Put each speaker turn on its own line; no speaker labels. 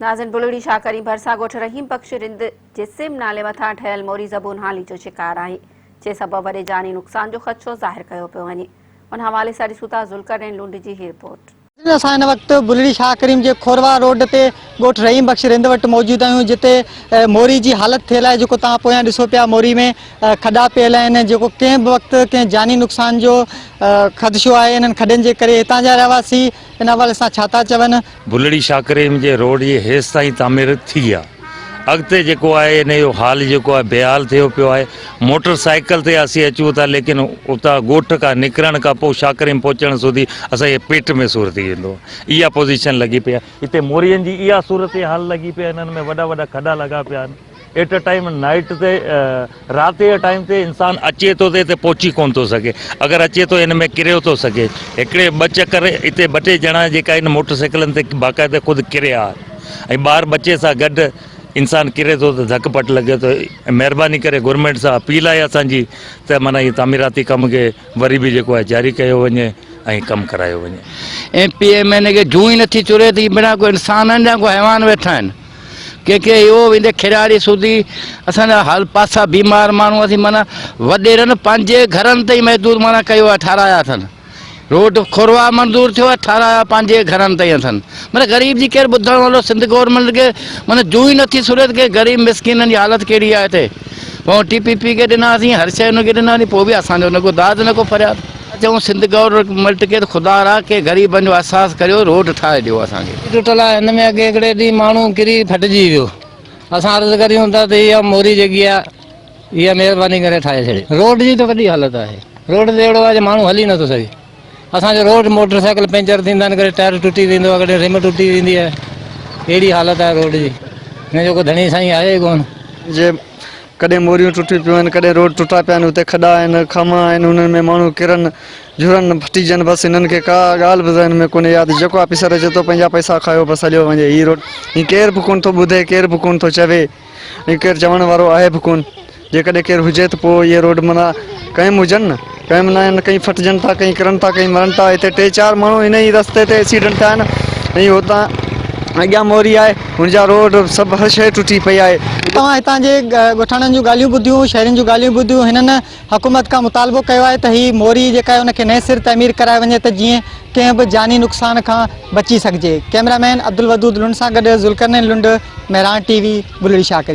ناظم بلڙي شاهه ڪريم ڀرسان ڳوٺ رحيم بخش رند جي سم نالي مٿان ٺهيل موري زبون هالي جو شڪار آهي جنهن سبب وڏي جاني نقصان جو خدشو ظاهر ڪيو پيو وڃي ان حوالي سان ڏسون ٿا ذوالقرنين لنڊ جي هي رپورٽ. ناظرين اسان هن وقت
بلڙي شاهه ڪريم جي کورواهه روڊ تي ڳوٺ رحيم بخش رند وٽ موجود آهيون جتي موري جي حالت ٿيل آهي جيڪو توهان پويان ڏسو پيا موري ۾ کڏا پيل آهن جيڪو ڪنهن به وقت ڪنهن جاني نقصان جو خدشو آهي انهن کڏن جي ڪري هتان جا رهواسي ان حوالي سان ڇا ٿا چون؟ ڀلڙي شاهه ڪريم
جي روڊ جي هيس تائين تعمير ٿي آ اڳتي جيڪو آهي ان جو حال جيڪو آهي بيحال ٿيو پيو آهي موٽر سائيڪل تي اسين اچون ٿا ليڪن اتان ڳوٺ کان نڪرڻ کان پوء شاهه ڪريم پهچڻ سوڌي اسان جي پيٽ ۾ سور ٿي ويندو آهي اها پوزيشن لڳي پئي آهي هتي مورين جي اها صورتحال لڳي پئي آهي انهن ۾ وڏا وڏا کڏا لڳا پيا آهن. ايٽ اي ٽائيم نائيٽ تي رات جي ٽائيم تي انسان اچي ٿو ته اتي پهچي ڪونه ٿو سگهي اگر اچي ٿو ان ۾ ڪريو ٿو سگهي هڪڙي ٻه چڪر اتي ٻه ٽي ڄڻا جيڪا آهن موٽر سائيڪلن تي باقاعده خود ڪريا ۽ ٻار ٻچي سان گڏ انسان ڪري ٿو ته ڌڪ پٽ لڳي ٿو مهرباني ڪري گورنمنٽ سان اپيل آهي اسانجي ته معنيٰ هي تعميراتي ڪم کي وري به جيڪو آهي جاري ڪيو وڃي ۽ ڪم ڪرايو وڃي M P M N A
کي جون ئي نٿي چوري ته هي بنا ڪو انسان آهن يا ڪو حيوان ويٺا آهن ڪي ڪي اهو ويندي کيراڙي سوڌي اسان جا حال پاسا بيمار ماڻهو اٿي معنيٰ وڏيرن پنهنجي گهرن تي ئي محدود معنيٰ ڪيو آهي ٺارايا اٿن روڊ کوروا منظور ٿيو آهي ٺارايا پنهنجي گهرن تي ئي اٿن معنيٰ غريب جي ڪير ٻڌڻ وارو سنڌ گورنمينٽ کي معنيٰ جون ئي نٿي سريت ڪي غريب مسڪينن جي حالت ڪهڙي آهي هتي پون ٽي پي پي کي ڏناسين هر شئي ان کي ڏناسين پو به اسان جو نه ڪو داد نه ڪو فرياد. چئون سنڌ گورنميٽ کي ته خدا را ڪي غريبن جو احساس ڪريو روڊ ٺاهي ڏيو اسان کي. ٽي ٽٽل آهي هن ۾ اڳي
هڪڙي ڏينهن ماڻهو ڪري ڦٽجي ويو اسان عرض ڪريون ٿا ته اها موري جيڪي آهي اها مهرباني ڪري ٺاهي ڇڏي روڊ جي ته وڏي حالت آهي روڊ ته اهڙو آهي جو ماڻهو هلي نٿو سگهي. اسان جو روڊ موٽر سائيڪل پنچر ٿيندا آهن ڪڏهن ٽائر ٽٽي ويندو آهي ڪڏهن رم ٽٽي ويندي آهي اهڙي حالت آهي روڊ جي هن جو ڪو ڌڻي سائين آهي ئي ڪونه. جي
ڪڏهن موريون ٽٽيون پيون آهن ڪڏهن روڊ ٽٽا پيا آهن اتي کڏا آهن کاما آهن انهن ۾ ماڻهو ڪرن جهرن ڦٽيجن بس انهن کي ڪا ڳالهه به ذهن ۾ ڪونهي ياد جيڪو آفيسر اچي ٿو پنهنجا پئسا کايو بس هليو وڃي هي روڊ هي ڪير به ڪونه ٿو ٻڌي ڪير به ڪونه ٿو چوي ائين ڪير چوڻ وارو آهي به ڪون. جيڪڏهن ڪير هجي ته پوء اهي روڊ منا قائم هجن نه. قائم نه آهن. ڪئين ڦٽجن ٿا، ڪئين ڪرن ٿا، ڪئين مرن ٿا. هتي ٽي چار ماڻهو هن ئي رستي تي ايڪسيڊنٽ ٿيا آهن ۽ هتان اڳيان موري آهي، هن جا روڊ سڀ هر شيء ٽٽي پئي آهي. توهان هتان جي
ڳوٺاڻن جون ڳالهيون ٻڌيون، شهرين جون ڳالهيون ٻڌيون، هنن حڪومت کان مطالبو ڪيو آهي ته هي موري جيڪا آهي ان کي نئين سر تعمير ڪرائي وڃي ته جيئن ڪنهن به جاني نقصان کان بچي سگهجي ڪيمرا مين عبدالودود لنڊ سان گڏ ذوالقرنين لنڊ، مهراڻ ٽي وي، بلڙي شاهه ڪريم.